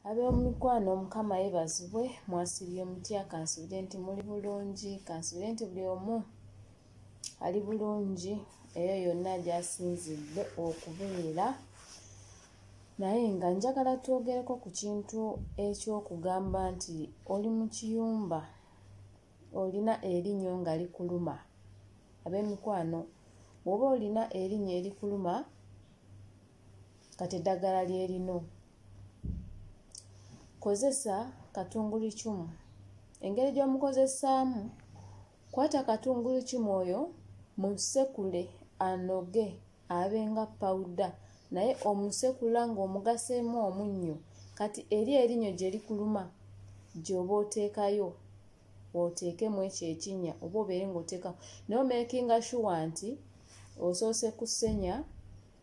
ab'omumikwano mukama yebazibwe mwasibye mutya kansubire nti muli bulungi kansubire nti buli omu ali bulungi eyo yonna gyasinzidde okubeera naye nga njagala twogereko ku kintu eky'okugamba nti oli mu kiyumba olina erinnyo nga likuluma ab'emikwano bw'oba olina erinnyo erikuluma kati eddagala lyerino kozesa katungulu cumu engeri gy'omukozesaamu kwata katungulu cumu oyo musekule anoge abe nga pawuda naye omusekula ng'omugaseemu omunnyo kati eri erinnyo gye likuluma gy'oba oteekayo oteekemu ekyo ekinnya oba obeere ng'oteekamu naye omekinga shuwa nti osoose kusenya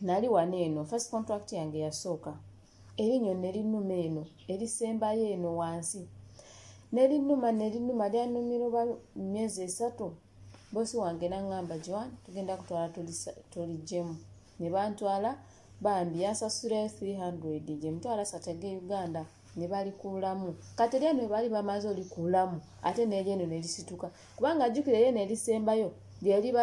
nali wano eno first contract yange yasooka erinnyo nerinnuma eno erisembayo eno wansi nerinnuma nerinnuma lyanumira oba myezi esatu bosi wange nangamba joan tugenda kutwala tulijemu ne bantwala bambi yansasulayo 300 gyemutwala satege uganda ne balikuulamu kati erya no baali bamaze olikuulamu ate neryo eno nelisituka kubanga ajjukira eyo eno erisembayo lyeliba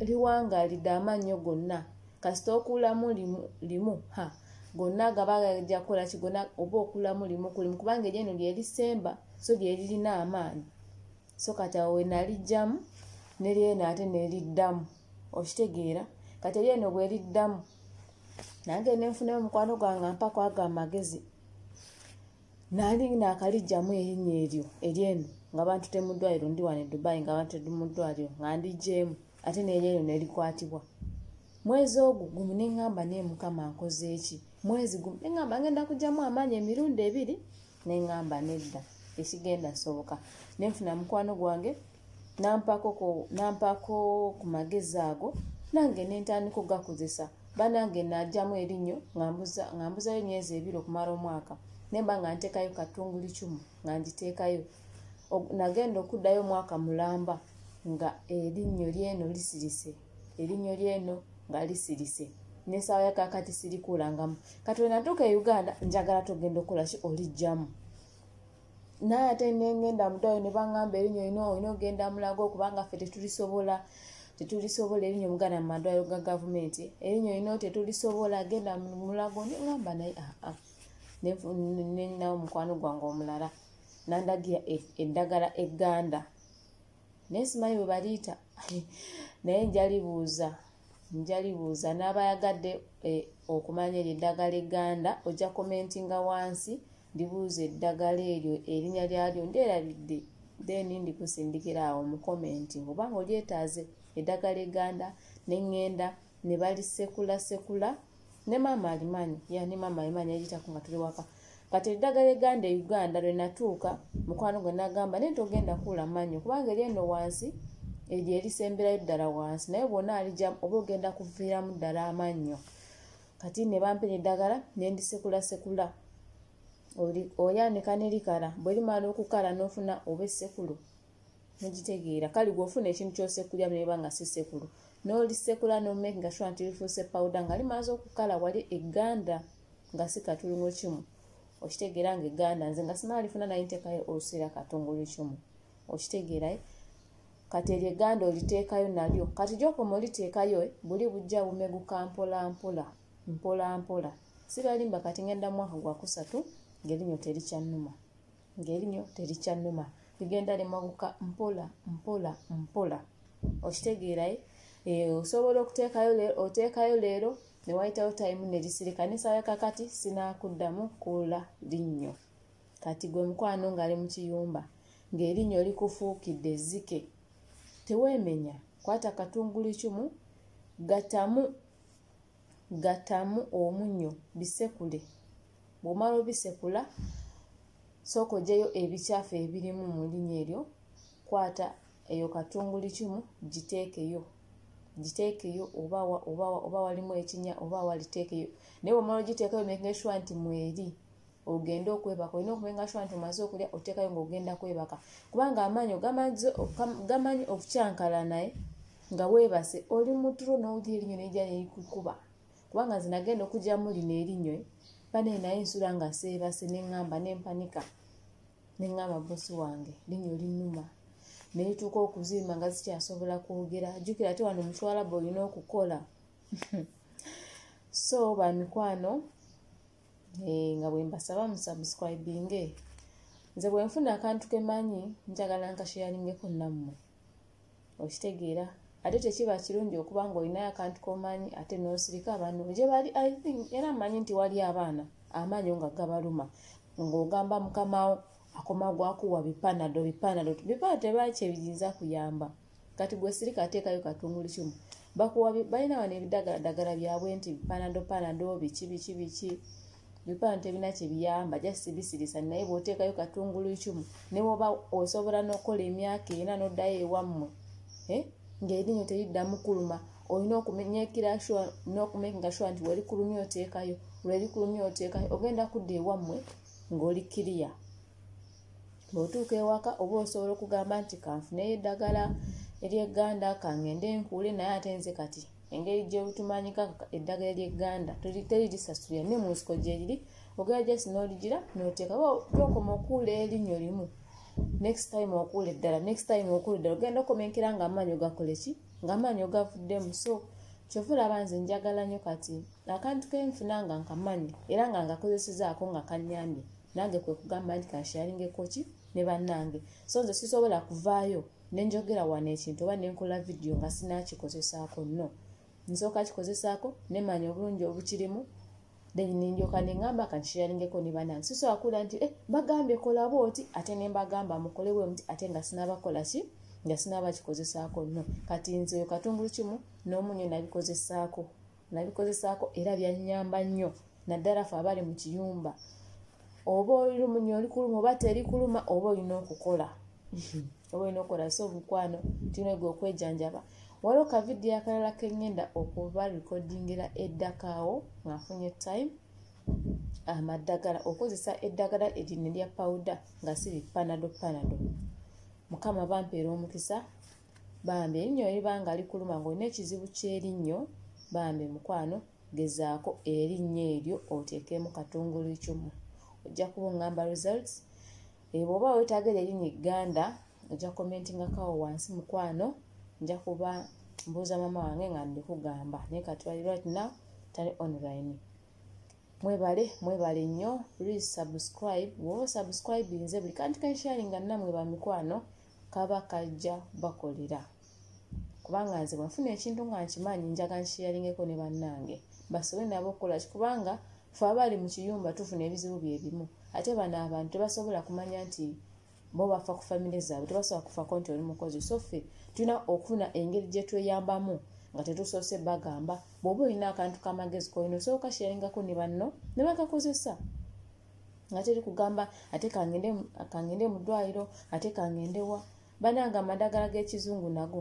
liwangalidde amannyo gonna kasita okuulamu limu ha gonna gaba gajja kukola kigona oba okuulamu limu kulimu kubanga eryo eno lyerisemba so lyeririna amaanyi so kati awo wenalijjamu neryeno ate neliddamu okitegeera kati eryeno bweriddamu nange nenfuna omukwano gwange mpako ago amagezi nali nakalijjamu erinya eryo eryeno nga bantu temudwaliro ndi wane dubai nga bantu temudwaliro nga ndijjeemu ate neryeno nelikwatibwa mwezi ogwo gumu neŋŋamba naye mukama nkoze eki mwezi gumu neŋŋamba ngenda kugyamu amaanyi emirundi ebiri neŋamba nedda tekigenda soboka nenfuna mukwano gwange nampako ku magezi ago nange nentandika okugakozesa banange najamu erinnyo ngambuzayo emyezi ebiri okumala omwaka nemba nga ntekayo katunguli kimu nga ngiteekayo nagenda okuddayo omwaka mulamba nga erinnyo lyeno lisirise erinnyo lyeno nga lisirise nesaawa yakakati sirikuulangamu kati wenatuuka e uganda njagala togenda okukola ki olijjamu naye ate nengenda mudayo nebangamba erinnyo olina olina ogenda mulago kubanga ffe tetulisobola tetulisobola erinnyo muganda mu madwaliro ga gavumenti erinnyo olina tetulisobola genda mulago nengamba naye aa ah, ah. nenawo mukwano gwange omulala nandagira e, eddagala egganda e naye simanyi bwe baliita naye njalibuuza njalibuuza n'abayagadde eh, okumanya eryo eddagala egganda ojja komentinga wansi ndibuuza eddagala eryo erinya lyalyo ndyerabidde then ndikusindikira awo mu komenti oba nga olyetaaze eddagala egganda ne ŋŋenda ne balissekulasekula ne maama alimanyi ya ne maama alimanyi yagitako nga tuli waka kati eddagala eganda e uganda lwe natuuka mukwano gwe nagamba naye togenda kuula manyo kubanga eri eno wansi eryo erisemberayo ddala wansi naye bwona alijamu oba ogenda kuviiramu ddala amannyo kati ne bampera eddagala nendisekulasekula oyanika nerikala bwerimala okukala nofuna oba esekulu mugitegeera kale gweofuna ekintu kyosekulya neba nga sisekulu nolisekula nomake nga shuwa nti lifuuse pawuda nga limaze okukala wali eganda nga sikatulungo kimu okitegeera nga eganda nze nga sinalifuna naye ntekayo olusiira katungulu kimu okitegeerae eh? kati eryo eganda oliteekayo nalyo kati gyokoma oliteekayo eh? buli bujja bumeguka mpolampola mpolampola sibalimba kati ngenda mwaka gwakusatu ngerinyo terikyannuma ng'erinyo terikyannuma ligenda limaguka mpola mpola mpola okitegeeraye eh, osobola okuteekayo leero oteekayo leero ne wayitawo tayimu ne lisirika nesaala kakati sinaakuddamu kuula linnyo kati gwe mukwano ng'ali mu kiyumba ng'erinnyo likufuukidde ezzike teweemenya kwata katungulu kimu gatamu gatamu omunyo bisekule bw'omala obisekula sooka ojeyo ebikyafu ebirimu mu linya eryo kwata eyo katunguli kimu giteekeyo giteekeyo obawa obawa oba walimu ekinya oba waliteekeyo naye bwomala ogiteekayo making sure nti mweri ogende okwebaka olina okumenga sure nti omaze okulya oteekayo ngaogenda kwebaka kubanga amaanyi gamanyi okukyankala naye nga weebase oli muturo n'owulira erinyo neija nerikukuba kubanga nze nagenda okugyamu lino erinywe banaye naye nsula nga seebase neŋŋamba nempanika neŋŋamba bosi wange linywe linuma netuuka okuzimba nga zikyasobola kwogera jukira ate wano mukiwalaba olina okukola so bamikwano eh, nga bwembasaba musubscribinge nze bwenfuna akantu kemanyi njagala nkasheyalingeko nammwe okitegeera ate tekiba kirungi okuba nga olinayo akantu komanyi ate nosirika abantu gyebali i think era manyi nti wali abaana amaanyo nga gabaluma ng'ogamba mukamawo akoma gwakuwa bipanado bipanado bipanado tebaki ebiyinza kuyamba kati gwe sirika ateekayo katunguli kimu bakuwa balina wano ebidagaladagala byabwe nti panado panado biki biki biki ebifaananyi tebirina kye biyamba just bisirisa naye bw'oteekayo katungulu icumu ne woba osobola n'okukola emyaka ena n'oddayo ewammwe eh? ng'erinyo teriddamu kuluma olina okumenyekira sure n'okumakinga sure nti werikulumya oteekayo lwerikulumya oteekayo ogenda kudda ewammwe ng'oli kiriya bw'otuuka ewaka oba osobola okugamba nti kanfuneyo eddagala ery'egganda kangende nkuule naye ate nze kati engeri gyebutumanyika eddagala eryeganda teri lisasulira ne munsiko gyeriri ogera just noligira noteeka gyokoma okuula erinyo limu next time okuula eddala next time okuula eddala ogenda okomenkera nga amaanyi ogakoleki nga amaanyi ogavuddemu so kyova olaba nze njagala nyo kati akantu kenfuna nga nkamanyi era nga ngakozesezaako nga kanyambye nange kwekugamba nti kansharingekoki ne bannange so nze sisobola kuvaayo nenjogera wano ekintu oba nenkola vidiyo nga sinakikozesaako no nsooka kikozesaako nemanya obulungi obukirimu then nenjoka nengamba kankisharingeko nebanange sisobola kuwulira nti eh, bagambye kola bwoti ate nembagamba mukole bwe muti ate nga sinabakola ki nga sinabakikozesaako no kati nze oyo katungulu kimu n'omunyo nabikozesaako nabikozesaako era byannyamba nnyo naddala fe abali mu kiyumba oba olumunya oli kuluma oba teri kuluma oba olina okukola oba olina okukola so omukwano tinego okwejanjaba waliwo kavidiyo akalala kengenda okuba rekodingira eddakaawo ngaafunye time amaddagala okozesa eddagala eryine lya pawuda nga si bipanado panado mukama bampeera omukisa bambi erinnyo eriba nga likuluma ng'olina ekizibu ky'erinnyo bambi mukwano gezaako erinnyo eryo oteekemu katungulu icumu ojja kuba ongamba results eh, bwoba wetaaga eri erinnyo egganda ojja commentingakawo wansi mukwano nja kuba mbuuza maama wange nga ndikugamba naye katwali right now tali online mwebale mwebale nnyo please subscribe woba subscribe nze buli kantu kensharinga namwe bamikwano kaba kajja bakolera kubanga nze bwenfuna ekintu nga nkimanyi njaga nkiyalingeko ne bannange basobole nabo okukola ki kubanga fe abaali mu kiyumba tufuna ebizibu bye bimu ate bano abantu tebasobola kumanya nti bo bafa ku famire zaabwe tebasobola kufako nti oli mukozi so ffe tulina okufuna engeri gye tweyambamu nga tetusoose bagamba bw'oba olina akantu k'amagezi kolina osooka kiyalingako ne banno ne bakakozesa nga teri kugamba ate kangende mu ddwaliro ate kangendewa bananga amadagala g'ekizungu nago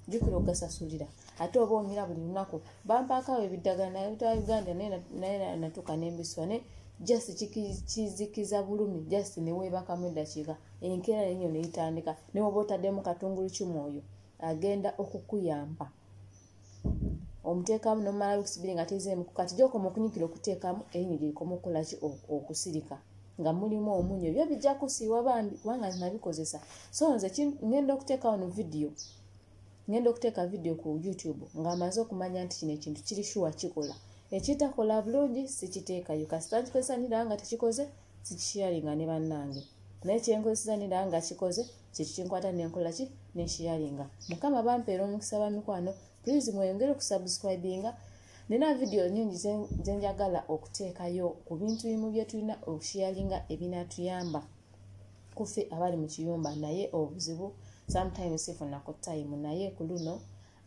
jukira ogasasulira ate oba onyira buli lunaku bampaakawo ebiddagala naye bita uganda naye natuuka nembiswa ne just kizikiza bulumi just neweebakamu eddakiika enkeera yenyo neyitandika newoba otaddemu katungulu kimwoyo agenda okukuyamba omuteekamu nomumala wiiki sibiri nga tezeemu kati gyokoma okunyikira okuteekamu erinyo gyerikoma okukola ki okusirika nga mulimu omunyo ebyo bijja kusiiwa bambi kubanga nabikozesa so nze ngenda okuteeka wano vidiyo ngenda okuteeka vidiyo ku youtube nga amaze okumanya nti kino ekintu kiri shuwa kikola ekitakola bulungi sikiteekayo kasita nkikozesa niraba nga tekikoze sikishiyaringa ne bannange naye kyenkozesa niraba nga kikoze kyekikinkwata nenkola ki neshiyaringa mukama bampeera omukisa ba mikwano please mweyongere okusubscribinga nina vidiyo nyingi zenjagala okuteekayo ku bintu bimu byetulina okushiyaringa ebinatuyamba kufe abali mu kiyumba naye obuzibu sometimes sifunaku time naye ku luno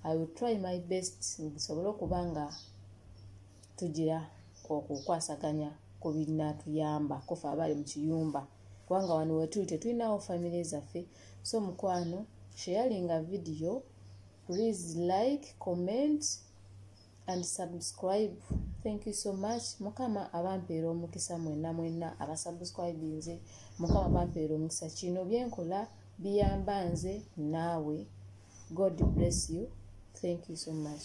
i will try my best nsobole okuba nga tugira okukwasaganya ku binatuyamba kufa abali mu kiyumba kubanga wano wetuli tetulinawo famire zaffe so mukwano sharinga video please like comment and subscribe thank you so much mukama abampeera omukisa mwenna mwenna abasubscribinze mukama bampeera omukisa kino byenkola biyamba nze naawe god bless you thank you so much